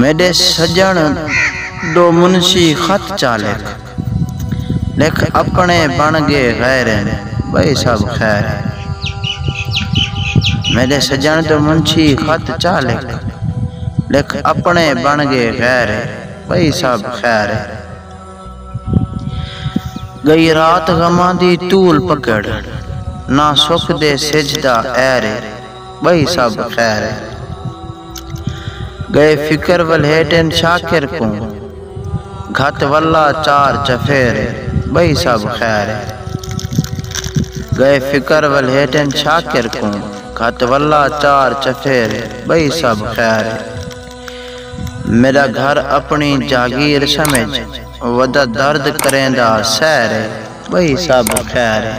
میݙے سڄݨ ݙو منشی خط چا لکھ لکھ اپݨے بݨ ڳے غیریں ٻئی سب خیر اے میݙے سڄݨ ݙو منشی خط چا لکھ لکھ اپݨے بݨ ڳے غیریں ٻئی سب خیر اے ڳئی رات غماں دی طول پکڑ نہ سک دے سجھ دا عیر اے۔ ٻئی سب خیر اے۔ ڳئے فکر ولھے ٹن شاکر کوں گھت ولا چار چفیر اے۔ ٻئی سب خیر اے۔ ڳئے فکر ولھے ٹن شاکر کوں گھت ولا چار چفیر اے۔ ٻئی سب خیر اے۔ میݙا گھر اپݨی جاگیر سمجھ ودا درد کریندا سیر اے۔ ٻئی سب خیر اے۔